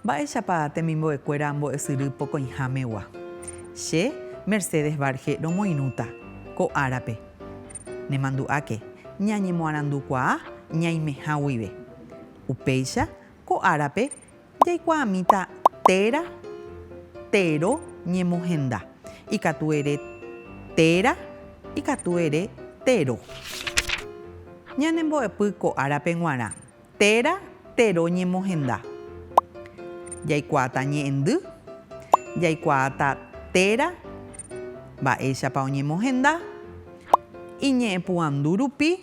Mba'éichapa temimbo'ekuéra ambo'esyry pokõihámegua? Che, Mercedes Barge romoirũta ko árape. Nemandu'áke, ñañemoarandukuaa ñaimeha guive. Upéicha ko árape jaikuaamíta téra, téro ñemohenda. Ikatu ere téra, ikatu ere téro. Ñanembo'epy ko árape g̃uarã, téra, téro ñemohenda. Jaikuaata ñe'ẽndy, jaikuaata téra mba'éichapa oñemohenda, iñe'ẽpu'andu rupi.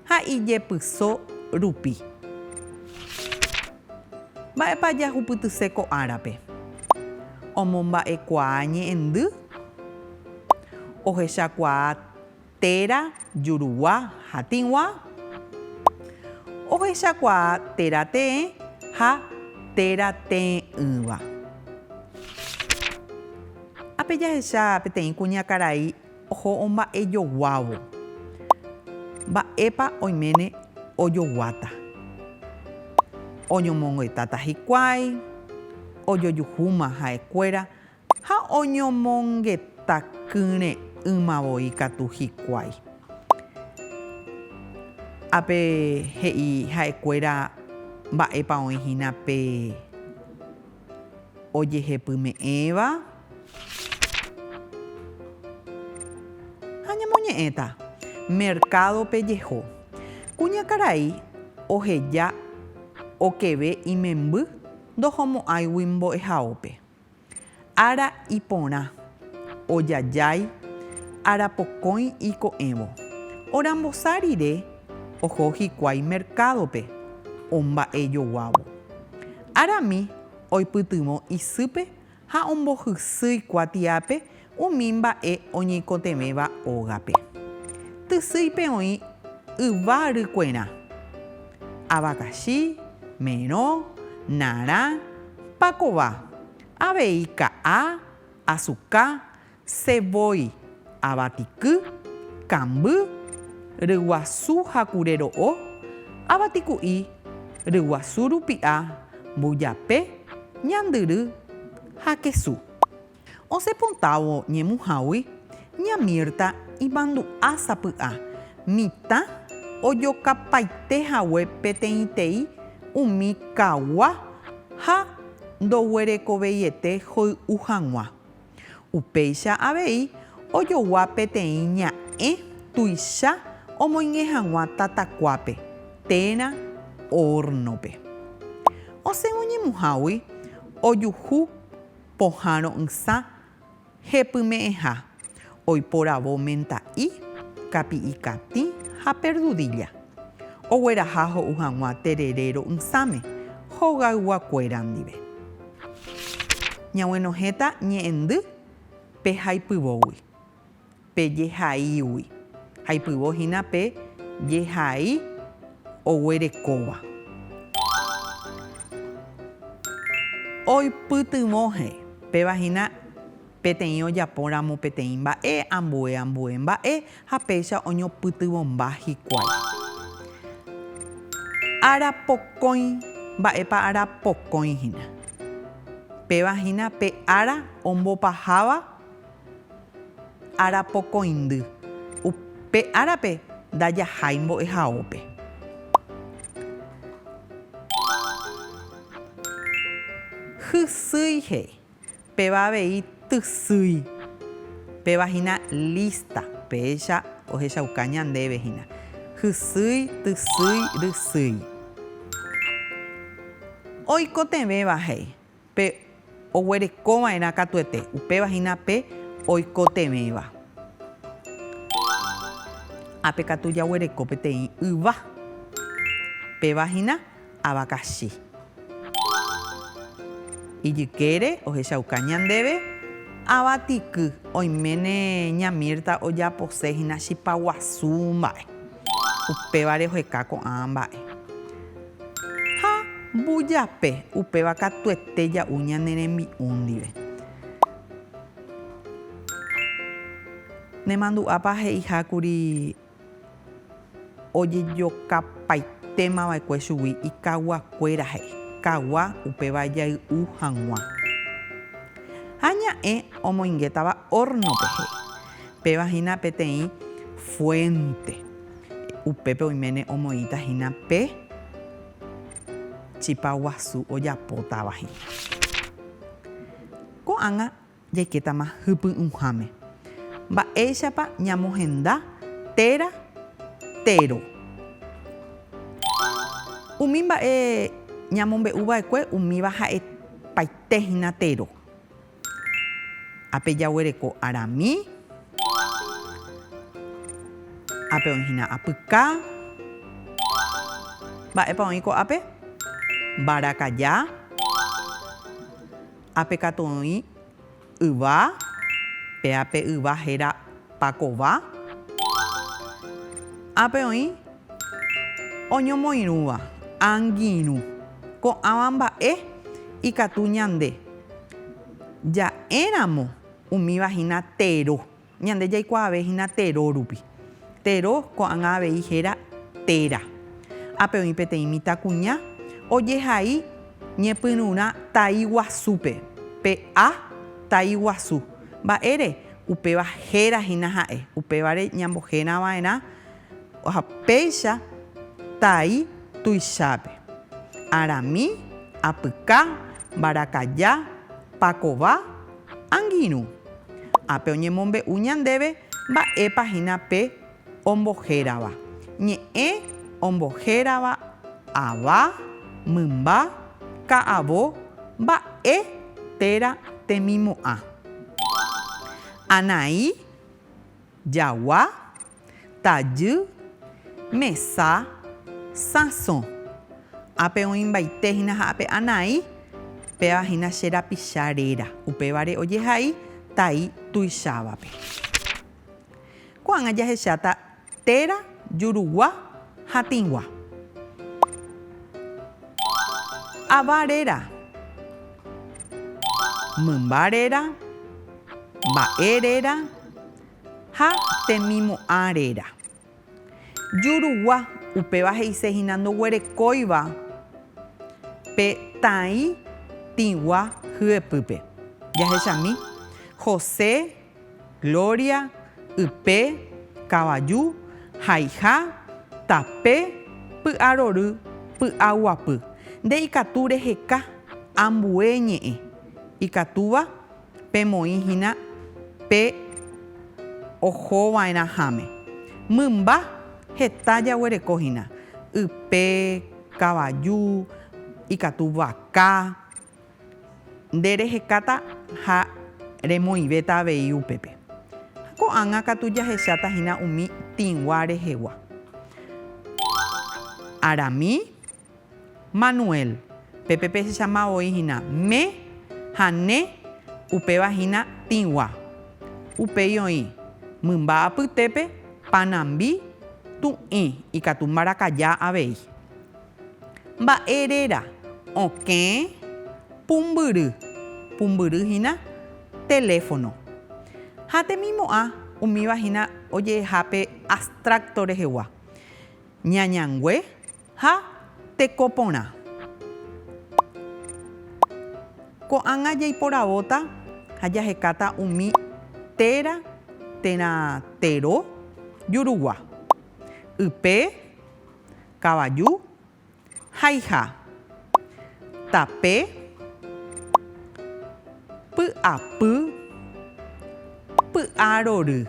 ha ijepyso rupi. Mba'épa jahupytyse ko árape? Omomba'ekuaa ñe'ẽndy, ohechakuaa téra jurugua ha tĩgua, ohechakuaa téra te'ẽ ha téra te'ỹva. Ápe jahecha peteĩ kuñakarai. Oho omba'ejoguávo. Mba'épa oiméne ojoguáta? Oñomongetáta hikuái, ojojuhúma ha'ekuéra ha oñomongeta kyre'ỹma voi katu hikuái. Ápe he'i ha'ekuéra mba'épa oĩ hína pe. Ojehepyme'ẽva ha ñamoñe'ẽta mercado-pe jeho. Kuñakarai oheja okeve imemby ndohomo'ãigui mbo'ehaópe. Ára iporã, ojajái, arapokõi iko'ẽvo. Orambosa rire oho hikuái mercado-pe omba'ejoguávo. Arami oipytyvõ isýpe ha ombohysýi kuatiápe umi mba'e oñeikotevẽva ógape. Tysýipe oĩ yva rykuerã, avakachi, merõ, narã, pakova, avei ka'a, asuka, Che voi, avatiky, kamby, ryguasu ha kure ro'o, avatiku'i, ryguasu rupi'a, mbujape, ñandyry ha kesu. Osẽ potávo ñemuhágui, ña Mirta imandu'a sapy'a mitã ojokapaite hague peteĩtei umi kagua ha ndoguerekoveiete hoy'u hag̃ua. Upéicha avei ojogua peteĩ ña'ẽ tuicha omoingẽ hag̃ua tatakuápe térã hórnope. Osẽ oñemuhágui ojuhu pohãro'ysã hepyme'ẽha, oiporavo menta'i, kapi'i katĩ ha perdudilla. Ogueraha ho'u hag̃ua terere ro'ysãme, hogayguakuéra ndive. Ñaguenohẽta ñe'ẽndy pe haipyvógui, pe jehaígui, aipyvo hína pe jehai oguerekóva. Oipytyvõhe, péva hína. Peteĩ ojapo ramo peteĩ mba'e, ambue ambue mba'e, ha péicha oñopytyvõmba hikuái. Ára pokõi, mba'épa ára pokõi hína? Péva hína pe ára ombopaháva ára pokõindy. Upe árape ndajahái mbo'ehaópe. Hysýi he'i. Péva avei tysýi. Péva hína lísta. Péicha ohechauka ñandéve hína. Hysýi, tysýi, rysýi. Oikotevẽva he'i. Pe oguerekova'erã katuete. Upéva hína pe oikotevẽva. Ha pe katu jaguereko peteĩ yva. Péva hína. avakachi. Ijykére ohechauka ñandéve ava tiky, oiméne ña Mirta ojapose hína chipa guasu mba'e. Upévare oheka ko'ã mba'e. Ha mbujape upéva katuete ja'u ñane rembi'u ndive. Nemandu'ápa he'ihákuri Ojejokapaitéma va'ekue chugui ikaguakuéra he'i, kagua upéva jay'u hag̃ua. Ha ña'ẽ omoingétava órnope he'i. Péva hína peteĩ fuénte. Upépe oiméne omoĩta hína pe chipa guasu ojapótava hína. Ko'ág̃a. Jaikétama hypy'ũháme. Mba'éichapa ñamohenda téra térõ. Umi mba'e ñamombe'u va'ekue umíva ha'e paite hína térõ. Ápe jaguereko arami. Ápe oĩ hína apyka. Mba'épa oĩ ko'ápe? Mbarakaja. Ápe katu oĩ yva, pe ápe yva héra pakova. Ápe oĩ oñomoirũva, angirũ. Ko'ãva mba'e ikatu ñande ja'éramo umíva hína tero. Ñande jaikuaave hína Tero rupi. Tero ko'ág̃a avei héra Tera. Ápe oĩ peteĩ mitãkuña ojehai ñepyrũrã tai guasúpe, pe A tai guasu. Mba'ére? Upéva héra hína ha'e. Upévare ñambohérãva'erã. Ha péicha tai tuichápe, arami, apyka, mbarakaja, pakova, angirũ. Ha pe oñemombe'u ñandéve mba'épa hína pe ombohérava, ñe'ẽ ombohérava ava, mymba, ka'avo, mba'e téra temimo'ã, anai, jagua, tajy, mesa, sãso. Ápe oĩmbaite hína ha ápe anai, péva hína che rapicha réra, upévare ojehai tai tuichávape. Ko'ág̃a jahecháta téra, jurugua ha tĩgua. Ava réra, mymba réra, mba'e réra. Ha temimu'ã réra. Jurugua, upéva he'ise hína ndoguerekóiva pe tãi tĩgua hyepýpe. Jahechami, José, Gloria, ype, kavaju, haiha, tape, py'arory, py'aguapy. Nde ikatu reheka ambue ñe'ẽ. Ikatúva? Pemoĩ hína pe ohova'erãháme. Mymba heta jaguereko hína, ype, kavaju, ikatu vaka. Nde rehekáta ha remoĩvéta avei upépe. Ha ko'ág̃a katu jahecháta hína umi tĩgua rehegua. Arami. Manuel, Pépe pehechama voi hína me ha ne, upéva hína tĩgua. Upéi oĩ, mymba apytépe, panambi, tu'ĩ, ikatu mbarakaja avei. Mba'e réra, okẽ, pumbyry, pumbyry hína teléfono. Ha temimo'ã umíva hína oje'eha pe abstracto rehegua, ñañangue, Ha teko porã. Ko'ág̃a jaiporavóta ha jahekáta umi téra térã tero jurugua, ype, kavaju, haiha, tape, py'apy, py'arory.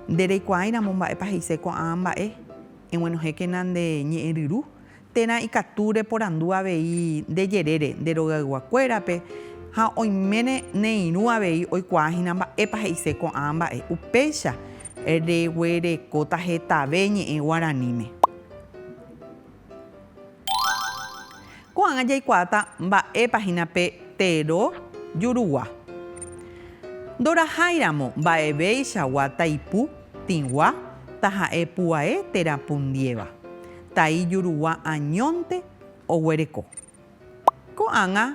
Nde reikuaáiramo mba'épa he'ise ko'ã mba'e. Eguenohẽkena nde ñe'ẽ ryru, térã ikatu reporandu avei nde jerére nde rogaygua kuérape, ha oiméne neirũ avei oikuaa hína mba'épa he'ise ko'ã mba'e. Upéicha reguerekóta hetave ñe'ẽ guaraníme. Ko'ág̃a jaikuaáta mba'épa hína pe Tero jurugua. Ndoraháiramo mba'evéichagua taipu tĩgua taha'e pu'ae térã pundiéva, tai jurugua añónte oguereko. Ko'ág̃a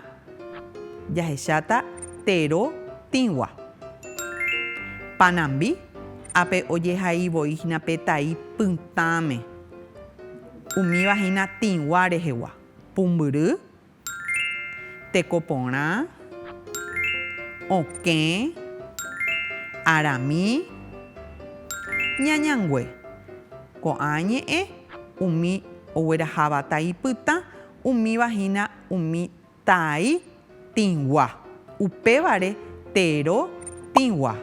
jahecháta tero tĩgua. Panambi, ápe ojehai voi hína pe tai pytãme, umíva hína tĩgua rehegua. Pumbyry, tekoporã, okẽ, arami, ñañangue. Ko'ã ñe'ẽ umi ogueraháva tai pytã Umíva hína umi taai tĩgua, upévare tero tĩgua.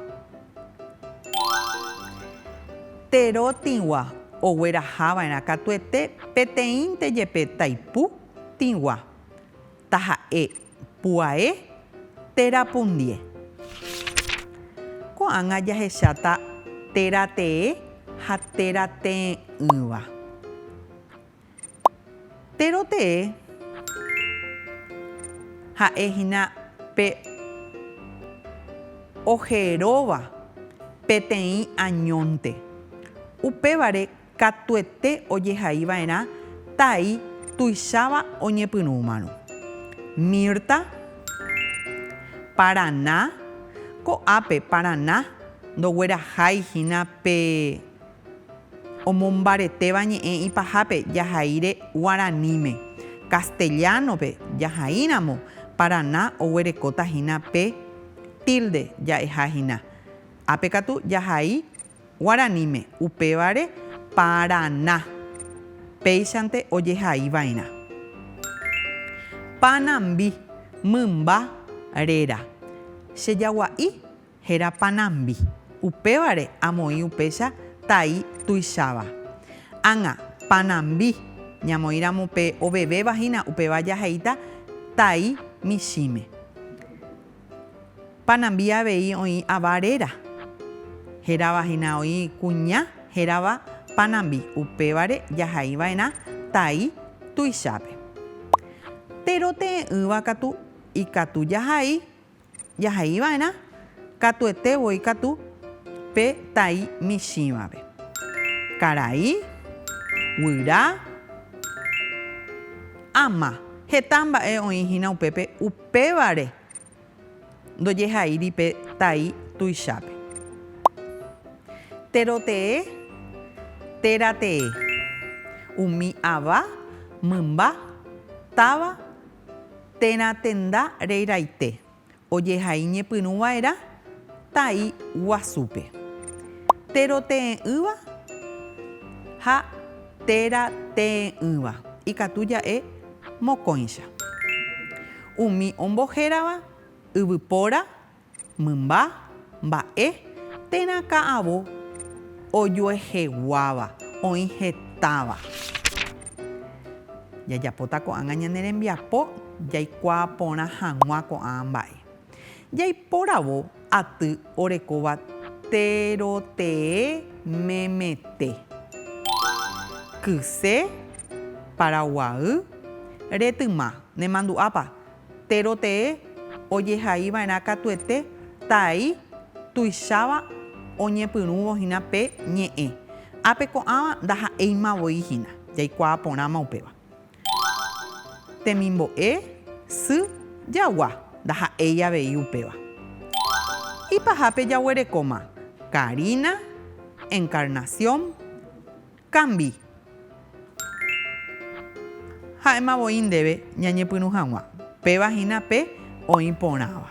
Tero tĩgua oguerahava'erã katuete peteĩnte jepe taipu tĩgua, taha'e puae tera pundie. Ko'ág̃a jahecháta tera tee ha tera tee'ỹva. Péro tee ha'e hína pe ojeróva peteĩ añónte. Upévare katuete ojehai va'erã tai tuicháva oñepyrũmarõ. Mirta, Paraná, ko'ápe Paraná ndoguerahái hína pe. Omombaretéva ñe'ẽ ipahápe jahaíre guaraníme. Castellano-pe jahaíramo, Paraná oguerekóta hína pe tilde ja'eha hína. Ápe katu jahai guaraníme, upévare Paraná. Péichante ojehai va'erã. Panambi, mymba réra. Che jagua'i Héra Panambi. Upévare amoĩ upéicha tai tuicháva. Ág̃a, Panambi. Ñamoĩramo pe ovevéva hína, upéva jaheíta tai michĩme. Panambi avei oĩ ava réra. Hérava hína oĩ kuña hérava Panambi. Upévare jahai va'erã tai tuichápe. Tero te'ẽ'ỹva katu ikatu jahai. Jaheiva'erã katuete voi katu pe tai michĩvape. Karai, guyra, ama. Heta mba'e oĩ hína upépe upévare ndojehaíri pe tai tuichápe. Téro tee, téra tee. Umi ava, mymba, táva, Térã tenda rei raite. Ojehai ñepyrũ vaerã tai guasúpe. Téro tee'ỹva ha téra tee'ỹva ikatu ja'e mokõicha. Umi ombohérava, yvypóra, Mymba, mba'e, térã ka'avo ojueheguáva, oĩ hetáva. Jajapóta ko'ág̃a ñane rembiapo jaikuaa porã hag̃ua ko'ã mba'e. Jaiporavo aty orekóva terotee memete, kyse, paraguaýy, retyma, nemandu'ápa, Térõ tee ojehai va'erã katuete tai tuicháva oñepyrũvo hína pe ñe'ẽ. Ápe ko'ãva ndaha'éima voi hína, jaikuaa porãma upéva. Temimbo'e, sy, jagua, ndaha'éi avei upéva. Ipahápe jaguerekóma, Karina, Encarnación, Cambi. Ha'éma voi ndéve ñañepyrũ hag̃ua, péva hína pe oĩ porãva.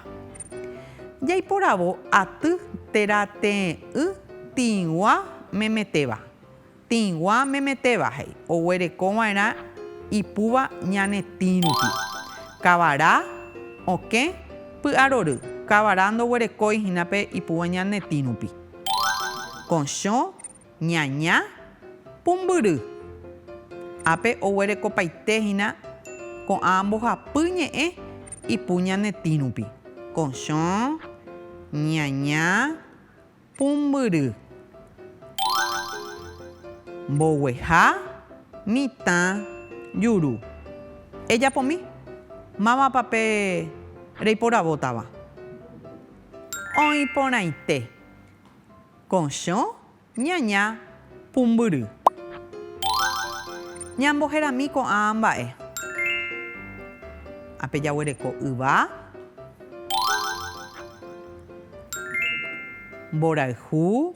Jaiporavo aty térã tee'ỹ tĩgua memetéva. Tĩgua memetéva he'i oguereko va'erã ipúva ñane tĩ rupi. Kavara, okẽ, py'arory, kavara ndoguerekói hína pe ipúva ñane tĩ rupi. Kochõ, Ñaña pumbyry. Ápe oguerekopaite hína ko'ã mbohapy ñe'ẽ ipu ñane tĩ rupi. Kochõ, ñaña pumbyry. Mbogueha mitã juru. Ejapomi. Mávapa pe reiporavótava? Oĩ porãite. Kochõ, ñaña, pumbyry. Ñamboherami ko'ã mba'e. Ápe jaguereko yva. Mborayhu.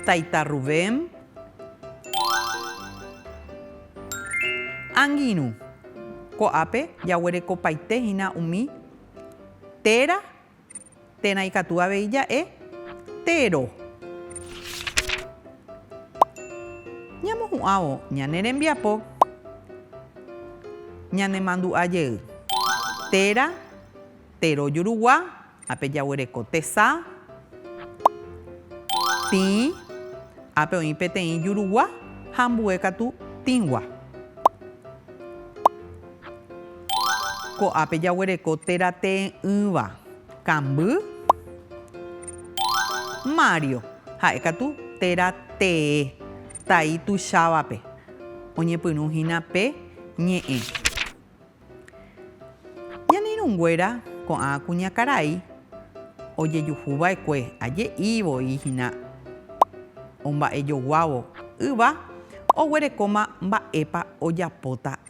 Taita Rubén. Angirũ. Ko'ápe jaguerekopaite hína umi. Téra, térã ikatu avei ja'e, téro. Ñamohu'ãvo ñane rembiapo ñanemandu'a jey. Téra, téro jurugua, ápe jaguereko tesa. Tĩ, ápe oĩ peteĩ jurugua ha ambue katu tĩgua. Ko'ápe jaguereko téra tee'ỹva, kamby, Mario, ha'e katu téra tee, tai tuichávape, oñepyrũ hína pe ñe'ẽ. Ñane irũnguéra ko'ã kuñakarai ojejuhu va'ekue aje'i voi hína omba'ejoguávo yva oguerekóma mba'épa ojapóta